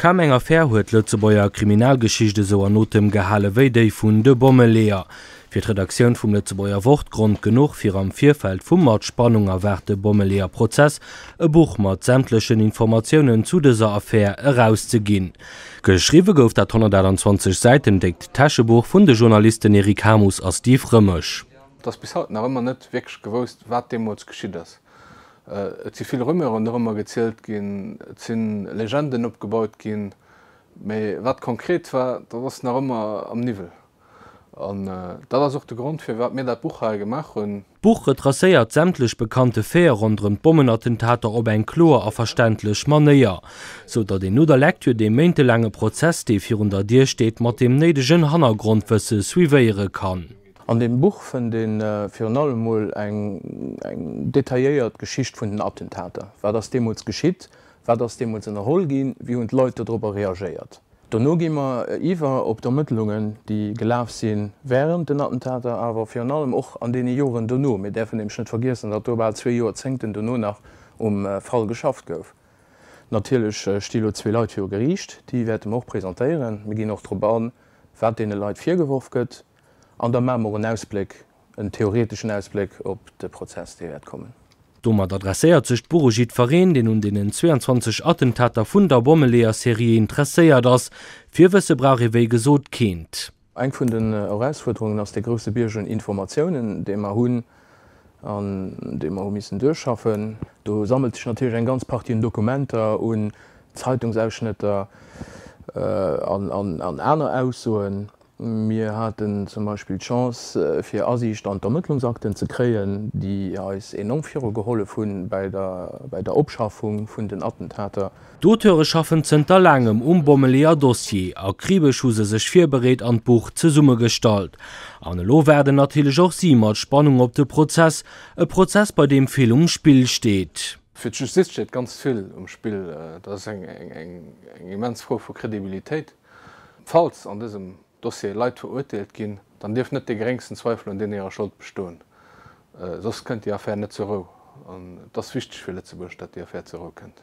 Kaum eng Affär huet d'Lëtzebuerger Kriminalgeschicht esou an Otem gehale wéi déi vun de Bommeleeër. Fir d'Redaktioun vum Lëtzebuerger Wort Grond genuch, fir am Virfeld vum mat Spannung erwaarte Bommeleeër Prozess e Buch mat sämtlechen Informatiounen zu dëser Affär erauszeginn. Geschriwwe gouf dat 128 Säiten déckt Täschebuch vun de Journalisten Eric Hamus a Steve Rëmesch. Et ass bis haut nach ëmmer net wierklech gewousst, wat deemools geschitt ass. Et si vill Rumeuren dorëmmer gezielt ginn, et si Legenden opgebaut ginn, mee wat konkret war, dat ass nach ëmmer am Niwwel. An dat ass och de Grond, firwat mir dat Buch hei gemaach hunn. D'Buch retracéiert sämtlech bekannte Faite ronderëm d'Bommenattentater op eng kloer a verständlech Manéier, sou datt een no der Lektür dee méintelaange Prozess, dee virun der Dier steet, mat deem néidegen Hannergrondwësse suivéiere kann. An deem Buch fënnt ee virun allem mol eng detailléiert Geschicht vun den Attentater. Wat ass deemools geschitt? Wat ass deemools ënnerholl ginn? Wéi hunn d'Leit dodropper reagéiert? Dono gi mer iwwer op d'Ermëttlungen, déi gelaf sinn wärend den Attentater, awer virun allem och an deene Joren dono. Mir däerfen nämlech net vergiessen, datt do bal zwee Jorzéngten dono nach um Fall geschafft gouf. Natierlech sti lo zwee Leit viru Geriicht, déi wäerte mer och presentéieren. Mir ginn och drop an, wat deene Leit virgeworf gëtt. An da maache mer en Ausbléck, en theoreteschen Ausbléck op de Prozess, dee wäert kommen. Domat adresséiert sech d'Buch u jiddfereen, deen un deenen 22 Attentater vun der Bommeleeër-Serie interesséiert ass. Virwësse brauch ee wéi gesot keent. Eng vun den Erausfuerderungen ass dee grousse Bierg un Informatiounen, dee mer hunn an dee mer hu missen duerchschaffen. Do sammelt sech natierlech eng ganz Partie un Dokumenter, un Zeitungsausschnëtter an aner Aussoen. Mir haten zum Beispill d'Chance fir Asiicht an d'Ermëttlungsakten ze kréien, déi eis enorm virugehollef hu bei der Opschaffung vun den Attentater. D'Auteure schaffen zënter laangem um Bommeleeër-Dossier. Akribesch hu se sech virbereet an d'Buch zesummegestallt. An elo waarden natierlech och si mat Spannung op de Prozess, e Prozess bei deem vill um Spill steet. Fir d'Justiz steet ganz vill um Spill. Dat ass eng immens Fro vu Credibilitéit. Falls an dësem Dossier Leit verurteelt ginn, dann dierf net dee geréngsten Zweifel un deenen hirer Schold bestoen. Soss kënnt déi Affär net zur Rou. An et ass wichteg fir Lëtzebuerg, datt déi Affär zur Rou kënnt.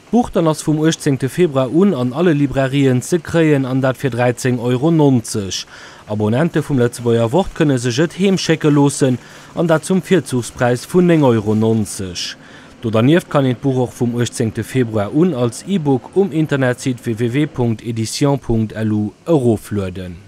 D'Buch dann ass vum 18 Februar un an alle Librairien ze kréien, an dat fir 13 Euro 90. Abonnente vum Lëtzebuerger Wort kënne sech et heem schécke loossen, an dat zum Virzuchspräis vun 9 Euro 90. Do dernieft kann een d'Buch och vum 18 Februar un als E-Book um Internetsite www.editions.lu eroflueden.